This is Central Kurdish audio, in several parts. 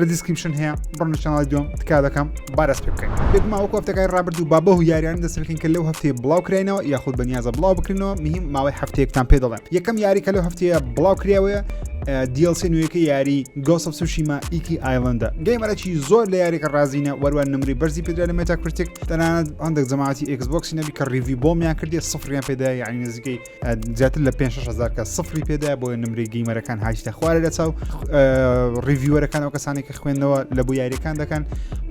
لە دیسکریپشن هەیە بڕنە چناڵی دوم تکا دەکەم بارەس پێ بکەین بێگوما وەکو هەفتەکەی ڕابرد و بابە و یاریان دەست بکەین کە لەو هەفتەیە بڵاو کراینەوە یاخود بە نیازە بڵاو بکرینەوە مهم ماوەی هەفتەیەکتان پێ دەڵێن یەکەم یاری کە لەو هەفتەیە بڵاو کراوەیە DLC نوێیەکە یاری گۆسە سوشیما ئیکی ئایلندە گەیمەرەکی زۆر لە یاریەکە ڕازینە وەروان نمری بەرزی پێدرا لە مێتا کرتێک تەنانەت هەندێک جەماعتی ئەکسبۆکسی نەبی کە ڕیوی بۆمیان کردێ سفریان پێدا یعنی نزیکەی زیاتر لە 5 هزار کە سفری پێدایە بۆیە نمری گەیمەرەکان هاچتە خوارە لە چاو ڕیڤیوەرەکان ئەو کەسانی کە خوێندنەوە لە بۆ یاریەکان دەکەن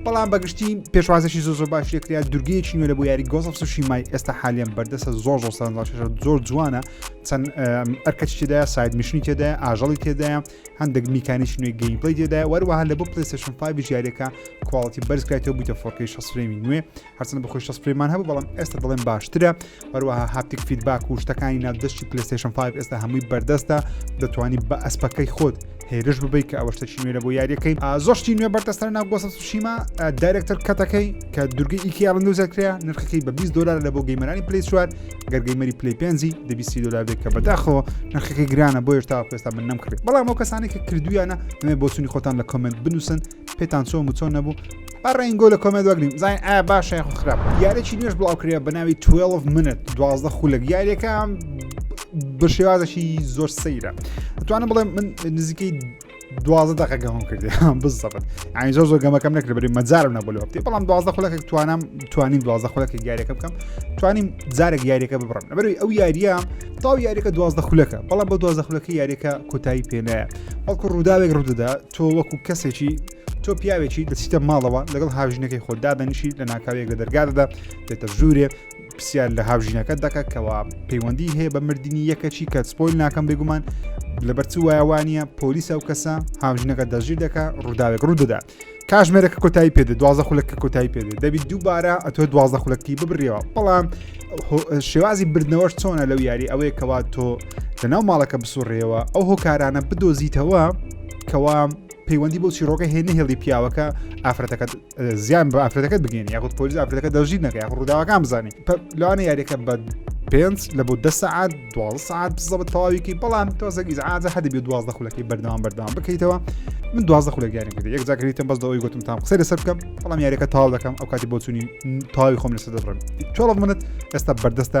بەڵام بەگشتی پێشوازێکی زۆ زۆر باش لێکریا دورگەیەکی نوێ لە بۆ یاری گۆزف سوشی مای ئێستا حالیان بەردەسە زۆر زۆر سەرنجاشە زۆر جوانە چەند ئەرکەچ تێدا ساید میشنی تێدا ئاژەڵی تێدا هەندێک میکانیش نوێ گەیم پلی تێدا وەروەها لە بۆ پلیسشن پای بژارەکە کوالڵتی بەرزکاتەوە بووتە فۆرکەی شەسرێمی نوێ هەرچەندە بەخۆی شەست فرێمان هەبوو بەڵام ئێستا دەڵێن باشترە هەروەها هاپتیک فیدباک و شتەکانی ناودەستی پلیستشن 5 ئێستا هەمووی بەردەستە دەتوانی بە ئەسپەکەی خۆت هێرش ببیت کە ئەوە شتەکی نوێرە بۆ یاریەکەی زۆشتی نوێ بەردەستە ناو گۆسە سوشیما دایرکتەر کەتەکەی کە دورگەی ئیکیاڵند و زەکریا نرخەکەی بە 20 دلار لە بۆ گەیمەرانی پلی چوار گەرگەیمەری پلی پێنجی دەبیسی دلار بێت کە بەداخەوە نرخەکەی گرانە بۆ هێشتا پێستا من نەمکڕێت بەڵام ئەو کەسانی کە کردویانە نوێ بۆچوونی خۆتان لە کۆمنت بنووسن پێتان چۆن و چۆن نەبوو بەڕێنگۆ لە کۆمێت وەگرین زانین ئایا باشە یاخو خراپ یارێکی نوێش بڵاوکرێ بە ناوی 12 منت دوازدە خولک یاریەکە بە شێوازەکی زۆر سەیرە توانم بڵێم من نزیکەی دوازە دەقەگەمم کردی بزەبن ئاین زۆر زۆر گەمەکەم نەکرد بری مەجارم نەبوو لە وەختی بەڵام دوازە خولەکە توانم توانین دوازە خولەکە یاریەکە بکەم توانیم جارێک یاریەکە ببڕم لەبەروی ئەو یاریە تاو یاریەکە دوازدە خولەکە بەڵام بە دوازە خولەکە یاریەکە کۆتایی پێنایە بەڵکو ڕووداوێک ڕوودەدا تۆ وەکو کەسێکی تۆ پیاوێکی دەچیتە ماڵەوە لەگەڵ هاوژینەکەی خۆ دادەنیشی لە ناکاوێک لە دەرگادەدا دێتە ژوورێ پرسیار لە هاوژینەکە دەکە کەوا پەیوەندی هەیە بە مردنی یەکەچی کە سپۆیل ناکەم بێگومان لەبەرچ وایوانە پۆلیسە و کەسە هاوژینەکە دەژیر دەکە ڕووداوێک ڕوو دەدا کاژمێرەکە کۆتایی پێدە دوازە خولەکە کۆتایی پێدە دەبیت دووبارە ئەتۆ دوازە خولەکتی ببرەوە بەڵام شێوازی بردنەوەش چۆنە لەو یاری ئەوەیە کەوا تۆ لەناو ماڵەکە بسوڕێەوە ئەو هۆکارانە بدۆزیتەوە کەوا پەیوەندی بۆ چیرۆکە هێ نهێڵی پیاوەکە ئافرەتەکە زیان بە ئافرەتەکەت بگەین یاخود پۆلیس ئافرەتەکە دەژی نەکە یاخ ڕووداوەکان بزانانی لەوانە یاریەکە بە پێنج لە بۆ دە سعات دو سعات بزەبت تەواویکەی بەڵام تۆزەگی عادە هەدە بێ دوازدە خولەکەی بەردەوام بەردەوام بکەیتەوە من دوازدە خولە گیانی کرد یەک جاکریتم بەس دەوەی گوتم تام قسە لەسەر بکەم بەڵام یاریەکە تاو دەکەم ئەو کاتی بۆچووی تاوی خۆم لەسەر دەڕم تۆڵ منت ئێستا بەردەستە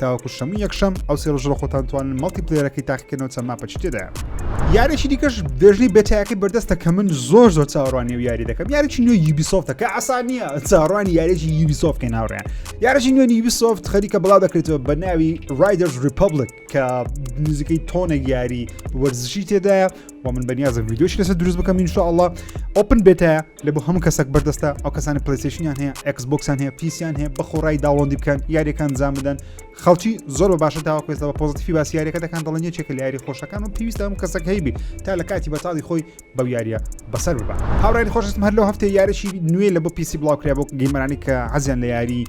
تاوەکو شەموو یەکشەم ئەو سێ ڕۆژڕە خۆتان توانن مەڵتی پلێرەکەی تاقیکردنەوە چەند ماپەچی تێدایە یارێکی دیکەش دێژنی بێتایەکەی بەردەستە کە من زۆر زۆر چاوەڕوانی و یاری دەکەم یاریی نوێ یوبیسۆفتە کە ئاسان نییە چاڕوانی یاریی یوبیسۆف کە ناوڕێن یاریی نوێ یوبیسۆفت خەریکە بڵا دەکرێتەوە بە ناوی رایدرز ریپبلک کە نزیکەی تۆنێک یاری وەرزشی تێدایە و من بەنیازم ویددیوش لەسەر دروست بکەم انشاءله ئۆپن بێتە لە بۆ هەموو کەسەک بەردەستە ئەو کەسانی پلیسیشنیان هەیە ئەکس بۆکسیان هەیە پیسیان هەیە بەخۆڕای داوەندی بکەن یاریەکان زان بدەن خەڵکی زۆر بە باشە داوا کوێستەوە پۆزتیفی باس یاریەکە دەکان دڵن یەکێکە لە یاری خۆشەکان و پێویستە هەموو کەسەک هەیبی تا لە کاتی بەتاڵی خۆی بەو یاریە بەسەر ببە هاوڕێن خۆشستم هەر لەو هەفتەیە یارەشی نوێ لە بۆ پیسی بڵاوکرێ بۆ گەیمەرانی کە عزیان لە یاری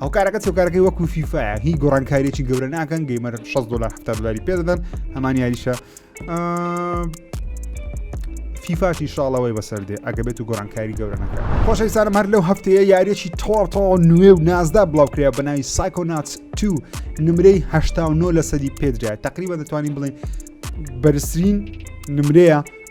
ئەو کارەکە چۆکارەکەی وەکو فیفاە هی گۆڕانکاریی گەورە ناکەن گەیمەر 6 دلار ه دلاری پێ دەدەن هەمان یاریشە فیفاشی شاڵەوەی بەسەر دێ ئەگە بێت و گۆرانکاری گەورە نەکە خۆشەویستانم هەر لەو هەفتەیە یاریەکی تۆڕتەوە نوێ و نازدا بڵاوکرێ بەناوی سایکۆنات تو نمرەی هه لە سەدی پێدرا تقریبا دەتوانین بڵێ بەرزترین نمرەیە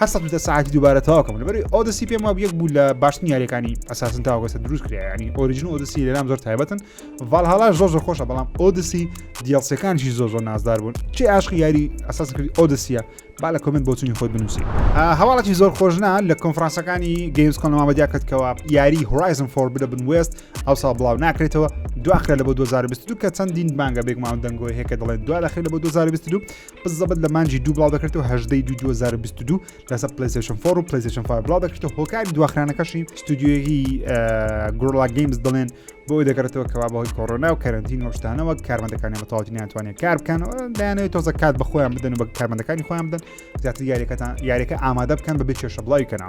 هەر سەد و دە ساعتی دووبارە تەواو کەم لەبەری ئۆدسی پێم واب یەک بوو لە باشترین یاریەکانی ئەساسن تاوەگەسە دروست کرا ینی ئۆریژن ئۆدسی لەلام زۆر تایبەتن ڤالهالا زۆر زۆر خۆشە بەڵام ئۆدسی دیڵسەکانشی زۆر زۆر نازدار بوون چی عاشقی یاری ئەساس کردی ئۆدسیە با لە کمنت بۆچنی خۆت بنووسی هەواڵەتی زۆر خۆشنا لە کۆنفرانسەکانی گەیمز کۆنەمامە دیاکردکەوە یاری هورایزم فۆر بدە بن وێست ئەو ساڵ بڵاو ناکرێتەوە دواخرە لە بۆ 2022 کە چەندین بانگە بێگومان دەنگۆی هەیە کە دەڵێن دوا دەخرێت لە بۆ 2022 بزەبت لە مانجی دوو بڵاو دەکرێتەوە هەژدەی دوو 2022 لەسەر پلیسشن فۆر و پلیسشن فای بڵاو دەکرێتەوە هۆکاری دواخرانەکەشی ستودیوەکی گۆڵا گەیمز دەڵێن بۆ دەگەڕێتەوە کەوا بەهۆی کۆرۆنا و کەرنتین وەشتانەوە کارمەندەکانی بەتەواتی ناتوانێت کار بکەنەوە دایانەوەی تۆزە کات بە خۆیان بدەن و بە کارمەندەکانی خۆیان بدەن زیاتر یاریەکەتان یاریەکە ئامادە بکەن بە بچێشە بڵاوی کەنا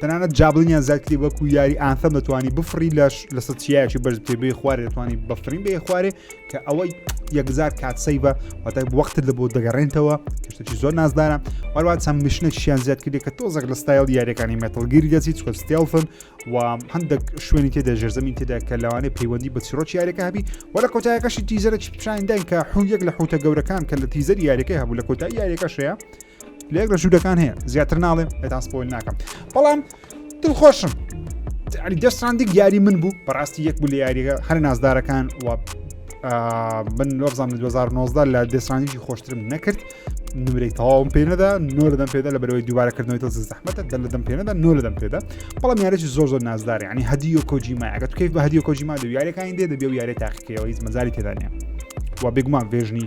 تەنانەت جابلنیان زیاتری وەکو یاری ئانسەم دەتوانانی بفڕی لەش لەسەر چیایکی بەرز بچێ بێ خوارێ دەتوانانی بەفرین بێ خوارێ کە ئەوەی یەکزار کات سەیبە واتای وەختت لە بۆ دەگەڕێنتەوە کەشتێکی زۆر نازدارە وەروان چەند مشنێکیان زیاد کردێک کە تۆزەک لە ستایل یاریەکانی مێتەلگیری دەچیت چکە ستێڵفن و هەندێک شوێنی تێدا ژێرزەمین تێدا کە لەوانەیە پەیوەندی بە چیرۆکی یاریەکە هەبی وە لە کۆتایەکەشی تیزەرە چی پیشانداین کە حون یەک لە حوتە گەورەکان کە لە تیزەر یاریەکە هەبوو لە کۆتای یاریەکەشەیە لێک لە ژوورەکان هەیە زیاتر ناڵێم ئێتان سپۆیل ناکەم بەڵام دڵخۆشم علی دەستراندی یاری من بوو بەڕاستی یەک بوو لە یاریگە هەر نازدارەکان و من لۆبزان 2019 لە دەسترانیی خۆشترم نەکرد نمرەی تەواوم پێنەدا نۆ لەدەم پێدا لە بەرەوەی دووبارەکردنەوە تۆ زەحمەتە دە لەدەم پێنەدا نۆ لەدەم پێدا بەڵام یارێکی زۆر زۆر نازدارێ ینی هەدی و کۆجیما ئەگەت کەیف بە هەدی و کۆجیما دو یارەکانی دێ دەبێ و یارێ تاقیکەوە هیچ مەزاری تێدانە و بێگومان بێژنی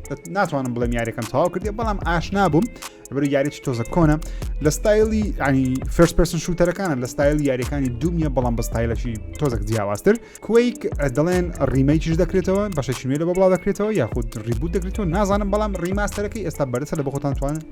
ناتوانم بڵێم یاریەکەم تەواو کردێ بەڵام ئاشنا بووم بەر یاریی تۆزە کۆنە لە ستایلی ینی فرس پرسن شوتەرەکانە لە ستایل یاریەکانی دومیە بەڵام بە ستایلەکی تۆزەک جیاوازتر کویک دەڵێن ڕیمەیکیش دەکرێتەوە بەشەشیێ لە بەڵا دەکرێتەوە یاخود ڕیبوو دەکرێتەوە نازانم بەڵام ڕیماستەرەکەی ئێستا بەرسە لە بەخۆتان توانن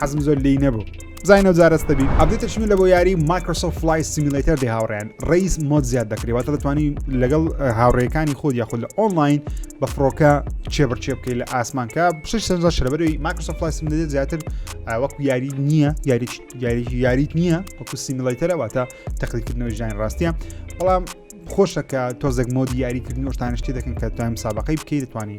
حەزم زۆر لێی نەبوو زینەوە جارەستە بی ئەبدێت ترشمی لە بۆ یاری مایکرۆسۆف فلای سیمیلیتەر دی هاوڕێن ڕیز مۆد زیاد دەکرێتواتە دەتوانانی لەگەڵ هاوڕێەکانی خۆت یاخود لە ئۆنلاین بە فڕۆکە چێبڕچێ بکەیت لە ئاسمانکە شش سەر شەربەری مایکرۆسۆف فلای سیمیلیتەر زیاتر وەکو یاری نییە یاری یاری یاریت نییە وەکو سیمیلیتەرەواتە تەقلیکردنەوە ژیان ڕاستە بەڵام خۆشەکە تۆزێک مۆدی یاریکردن شتانشتی دەکەن کە توانیم سابقەی بکەیت دەتوانانی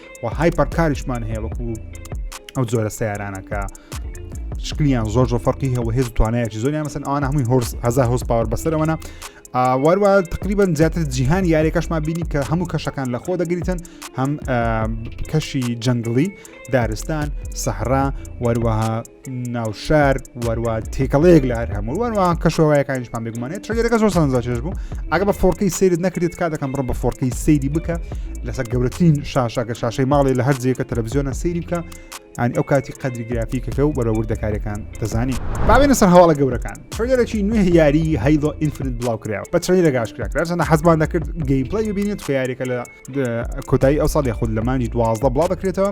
و هایپەر کاریشمان هەیە وەکو ئەو جۆرە سیارانە کە شکلیان زۆر زۆر فەرقی هەوە هێز توانایەکی زۆریان مەسن ئەوان هەمووی هۆرس هزار هۆز پاوەر بەسەرەوەە واروا تقریبا زیاتر جیهان یاریەکەشمان بینی کە هەموو کەشەکان لە خۆ دەگریتن هەم کەشی جەنگڵی دارستان سەحرا وەروەها ناوشار وەروە تێکەڵەیەک لە هەر هەموو وەروە کەشەوەیەکانیشمان بگومانێت چێگەرەکە زۆر سەنجا چێش بوو ئەگە بە فۆرکەی سیرت نەکرێت کا دەکەم بڕم بە فۆرکەی سەیری بکە لەسەر گەورەترین شاشەکە شاشەی ماڵی لە هەر جێکە تەلەڤزیۆنە سەیری بکە ئەنی ئەو کاتی قەدری گرافیکەکە و بەرەوردەکارەکان دەزانی باوێنە سەر هەواڵە گەورەکان ترێلەکی نوێ یاری هەیڵۆ ئینفرنت بڵاو کراوە بە ترێلە گاش کراکراسەنە حەزمان دەکرد گەیمپلای ببینێت فیارێکە لە کۆتایی ئەو ساڵی خود لەمانی دوازدە بڵاو دەکرێتەوە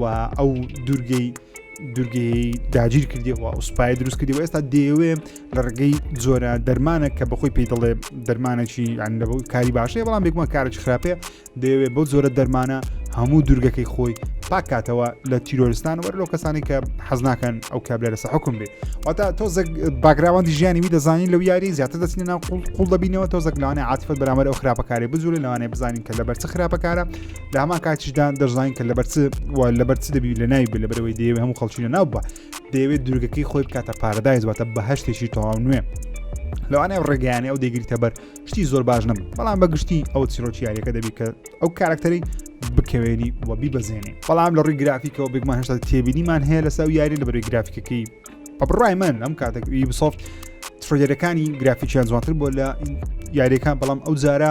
و ئەو دوورگەی دوورگەی داگیر کردیەوە ئەو سوپای دروست کردی و ئێستا دەیەوێ لە ڕگەی جۆرە دەرمانە کە بەخۆی پێی دەڵێ دەرمانێکی ئەندەبوو کاری باشەیە بەڵام بێکمان کارێکی خراپێ دەیەوێ بەو جۆرە دەرمانە هەموو دوورگەکەی خۆی پاکاتەوە لە تیرۆرستان وەر لەو کەسانی کە حەزناکەن ئەو کابلە لەسە حکم بێت واتا تۆزەک باگراوەندی ژیانی وی دەزانین لەو یاری زیاتر دەچینە ناو قوڵ دەبینەوە تۆزەک لەوانێ عاتفت بەرامەر ئەو خراپەکاری بزورە لەوانێ بزانین کە لەبەر چ خراپەکارە لە هەمان کاتیشدا دەزانین کە لەبەر لەبەر چ دەبی لە ناوی بێ لەبەرەوەی دەیەوێت هەموو خەڵکی لە ناو بە دەیەوێت درگەکەی خۆی بکاتە پارەدای زواتە بە هەشتێکی تەواو نوێ لەوانەیە ڕێگەیانە ئەو دەگریتە بەر شتی زۆر باش نم بەڵام بە گشتی ئەو چیرۆکیارەکە دەبی کە ئەو کارکتەری بکەوێنی و بیبەزێنی بەڵام لە ڕووی گرافیکەوە بێگمان هێشتا تێبینیمان هەیە لە ساو یاری لە بەروی گرافیکەکەی بە بڕای من ئەم کاتەک یوبسۆفت ترۆجەرەکانی گرافیکیان جوانتر بۆ لە یاریەکان بەڵام ئەو جارە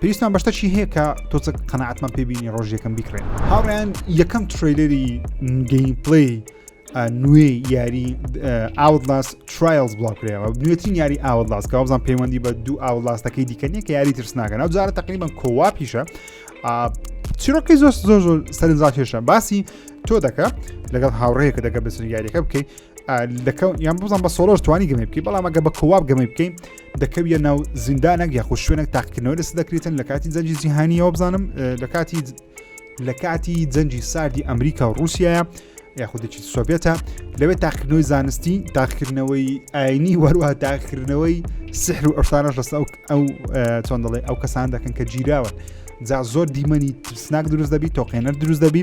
پێویستمان بە شتەکی هەیە کە تۆچە قەنەعاتمان پێبینی ڕۆژ یەکەم بیکڕێن هاوڕیان یەکەم تریلری گەیم پلی نوێ یاری ئاولاس ترایلز بڵاوکرێەوە نوێترین یاری ئاولاس کە بزان پەیوەندی بە دوو ئاولاستەکەی دیکە نیە کە یاری ترسناکە ناو جارە تقریبان کۆوا پیشە چیرۆکی زۆر زۆر زۆر سەرنجاکێشە باسی تۆ دەکە لەگەڵ هاوڕەیەکە دەگە بەسنگاریەکە بکەیت لەکە یان بزان بە سۆرۆژ توانی گەمە بکەی بەڵام ئەگە بە کۆواب گەمە بکەین دەکەویە ناو زیندانێک یاخود شوێنێک تاقیکردنەوە لەس دەکرێتن لە کاتی جەنجی جیهانیەوە بزانم لە کاتی لە کاتی جەنجی ساردی ئەمریکا و رووسایە یاخودێکی سۆڤێتە لەوێ تاقیکردنەوەی زانستی تاقیکردنەوەی ئاینی وەروە تاقیکردنەوەی سحر و ئەفسانەش لەستا ئەو چۆن دەڵێ ئەو کەسان دەکەن کە گیراوە جا زۆر دیمەنی ترسناک دروست دەبی تۆقێنەر دروست دەبی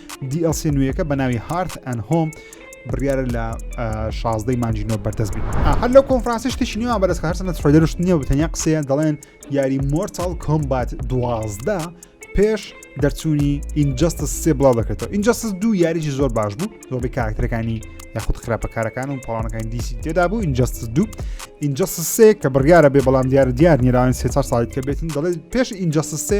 DLC نوێیەکە بە ناوی هارت ئەن هۆم بڕیارە لە شازدەی مانجی نۆ بەردەست بێت هەر لەو کۆنفرانسیش تشی نیوان بەرز هەرسنە ترۆیدەرشت نییە بتەنیا قسەیە دەڵێن یاری مۆرتال کۆمبات دوازدە پێش دەرچوونی ئینجستس سێ بڵاو دەکرێتەوە ئینجستس دوو یاریی زۆر باش بوو زۆربەی کاراکتەکانی یاخود خراپەکارەکان و پاڵانەکانی دیسی تێدا بوو ئینجستس دوو ئینجستس سێ کە بڕیاە بێ بەڵام دیارە دیار نیراوان سێ ساڵیت کە بێتن دەڵێت پێش ئینجستس سێ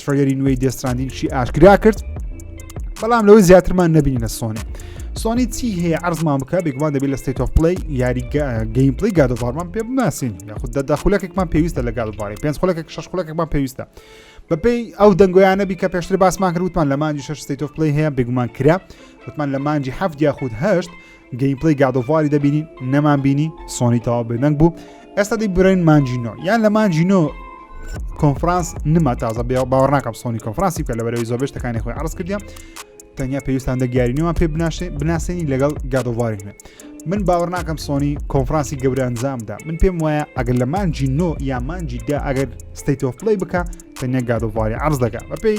تڕیەری نوێی دێستراندینشی ئاشکرا کرد بەڵام لەوەی زیاترمان نبینی لە سۆنی سۆنی چی هەیە ئەرزمان بکە بێگومان دەبێت لە ستیت of پلی یاری گەیم پلی گادوارمان پێ بناسین یاخود دەدا خولەکێکمان پێویستە لە گادواری پێنج خولەکێک شش خولەکێکمان پێویستە بەپی ئەو دەنگۆیانە بی کە پێشتر باسمان کردوتمان لە مانجی شش ستیت of پلی هەیە بێگومان کرا وتمان لە مانجی هەفت یاخود هەشت گەیمپلەی گاد ئۆف واری دەبینین نەمان بینی سۆنی تەواو بێدەنگ بوو ئێستا دی برین مانجینۆ یان لە مانجینۆ کۆنفرانس نما تازە بێ باوەڕ ناکەم سۆنی کۆنفرانسی کە لە بەرەوەی زۆر بێشتەکانی خۆی عرض کردیا تەنیا پێویستان دەگەیارینەوە پێ بناشێ بناسێنی لەگەڵ گادۆڤارینە من باوەڕ ناکەم سۆنی کۆنفرانسی گەورە ئەنجامدا من پێم وایە ئەگەر لە مانجی نۆ یا مانجیدا ئەگەر ستیت ئۆف پلی بکە تەنیا گادۆڤاری عرض دەکە بەپی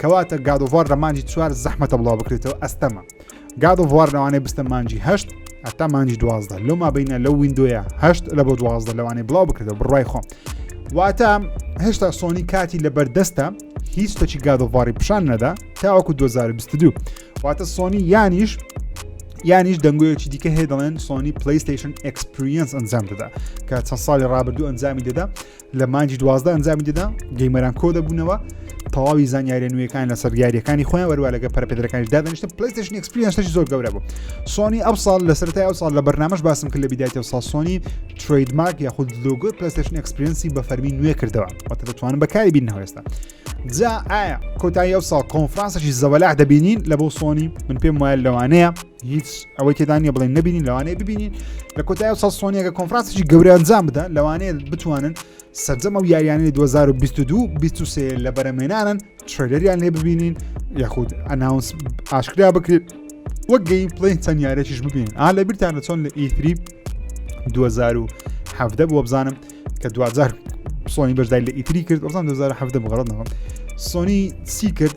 کەواتە گاد ئۆف وار لە مانجی چوار زەحمەتە بڵاو بکرێتەوە ئەستەمە گاد ئۆف وار لەوانەیە بستە مانجی هەشت هەتا مانجی دوازدە لەو مابینە لەو وینندۆیە هەشت لە بۆ دوازدە لەوانەیە بڵاو بکرێتەوە بڕای خۆم واتە هێشتا سۆنی کاتی لە بەردەستە هیچ تەچی گاد ئۆف واری پیشان نەدا تاوەکو 2022 واتە سۆنی یانیش یانیش دەنگۆیەکی دیکە هەیە دەڵێن سۆنی پلیستیشن ئەکسپریەنس ئەنجام دەدا کە چەند ساڵی ڕابردوو ئەنجامی دەدا لە مانگی دوازدە ئەنجامی دەدا گەیمەران کۆ دەبوونەوە تەواوی زانیاریە نوێەکان لەسەر دیارەکانی خۆیان وەروە لەگە پەرپێدرەکانی دادنیشتە پلیستشن ئەکسپریانسش زۆر گەورە بوو سۆنی ئەو ساڵ لە سەرای ئەو ساڵ لە بەرنامەش باسم کرد لە بیدایەوە سا سۆنی ترید مارک یاخود لۆگۆی پلیستشن ئەکسپرینسی بە فەرمی نوێ کردەوە وەتە دەتوانن بەکاری بین هەوێستا جا ئایا کۆتایی ئەو ساڵ کۆنفرانسەشی زەوەلاح دەبینین لە بۆ سۆنی من پێم وایە لەوانەیە هیچ ئەوەی تێدا نیە بڵێن نبینین لەوانەیە ببینین لە کۆتای ئەو سەسۆنیەکە کۆنفرانسیی گەورە ئەنجام بدە لەوانەیە بتوانن سەرجەم ئەو یاریانەی 2022 23 لە بەرەمێنانن ترێلەریان لێ ببینین یاخود ئەناونس ئاشکرا بکرێت وەک گەی پڵین چەند یارێکیش ببین ئا لە بیرتان لە چۆن لە ئیتری 2017 بۆ بزانم کە دوجار سۆنی بەشدای لە ئیتری کرد ئەوزان 2017 بغڵەتەوە سۆنی سی کرد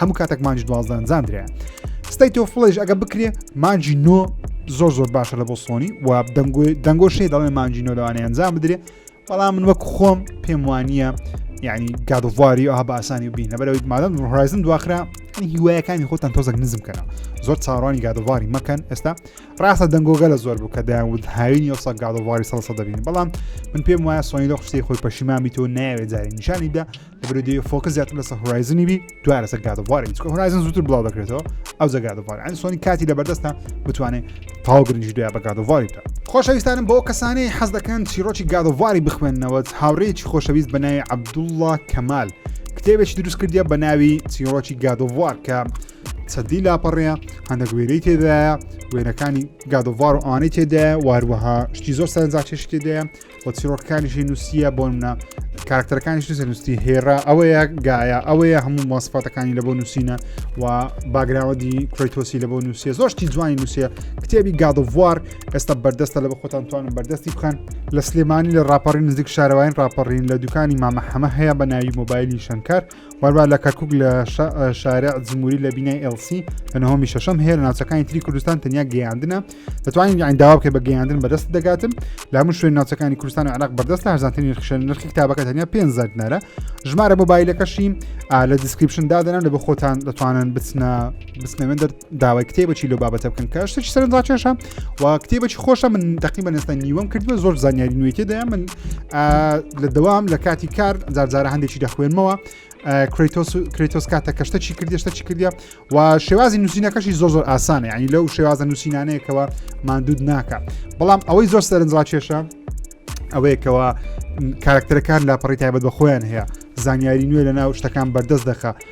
هەموو کاتێک مانجی دوازدان زانرە ستەی تۆ فڵێژ ئەگە بکرێ مانجی نۆ زۆر زۆر باشە لە بۆ سۆنی و دەنگۆی دەنگۆ شێ دەڵێ مانجی نۆ لەوانەیە ئەنجام بدرێ بەڵام من وەک خۆم پێم وانە یعنی گادواری ئەها بە ئاسانی بین لەبەرەوەی مادەم هۆرایزن دواخرا هیوایەکانی خۆتان تۆزەک نزم کەەوە زۆر چاڕوانی گادواری مەکەن ئێستا ڕاستە دەنگۆگە لە زۆر بوو کە داود هاوینی ئەوسا گادواری سەسە دەبین بەڵام من پێم وایە سۆنی لە خشتی خۆی پەشیمامی تۆ ناوێ جاری نیشانی دا برودی فۆکە زیاتر لەسە هورایزنی بی دوای لەسەر گادوارە چکە هورایزن زووتر بڵاو دەکرێتەوە ئەو زەگادوار ئەن سۆنی کاتی لە بەردەستە بتوانێت تاوگرنج دوای بە گادواری بکە خۆشەویستانم بۆ کەسانی حەز دەکەن چیرۆکی گادواری بخوێندنەوە هاوڕێکی خۆشەویست بە ناوی عبدوڵڵا کەمال کتێبێکی دروست کردە بە ناوی چیرۆکی گادوار کە سەدی لاپەڕەیە هەندە گوێرەی تێدایە وێنەکانی گادوار و ئانەی تێدایە واروەها شتی زۆر سەرنجاکێش تێدایە و چیرۆکەکانیشی نووسە بۆ منە کارکتەرەکانیش نووسە نووسی هێرا ئەوەیە گایە ئەوەیە هەموو ماسپاتەکانی لە بۆ نووسینە و باگراوەدی کرۆیتۆسی لە بۆ نووسە زۆشتی جوانی نووسە کتێبی گادڤوار ئێستا بەردەستە لە بە خۆتان توانم بەردەستی بکەن لە سلێمانی لە راپەڕین نزیک شارەوەین راپەڕین لە دوکانی مامە حەمە هەیە بە ناوی مۆبایلی شەنکار واربا لە کەرکک لە شارع جمهوری لە بینای ئەلسی لە نهۆمی شەشەم هەیە لە ناوچەکانی تری کوردستان تەنیا گەیاندنە دەتوانین یان داوا بکە بە گەیاندن بەدەست دەگاتن لە هەموو شوێن ناوچەکانی کوردستان عراق بەردەست هەزانترین نرخشە نرخی کتابەکە تەنیا پێ زەردنارە ژمارە مۆبایلەکەشی لە دیسکریپشن دادەنم لە بە خۆتان دەتوانن بچنە بچنەوێن داوای کتێبەی لۆ بابەتە بکەن کە شتێکی سەرنجڕاکێشە و کتێبەی خۆشە من دەقی بە نێستان نیوەم کردوە زۆر زانیاری نوێتی دەیە من لە دەوام لە کاتی کار جارجارە هەندێکی دەخوێنمەوە کرێتۆس کاتە کەشتە چی کردی شتە چی کردە و شێوازی نووسینەکەشی زۆ زۆر ئاسانە ینی لەو شێوازە نووسینانەیەکەوە مادود ناکە بەڵام ئەوەی زۆر سەرنجڕاکێشە ئەوەیەکەوە کارکتەرەکان لاپەڕی تایبەت بە خۆیان هەیە زانیاری نوێ لە ناو شتەکان بەردەست دەخە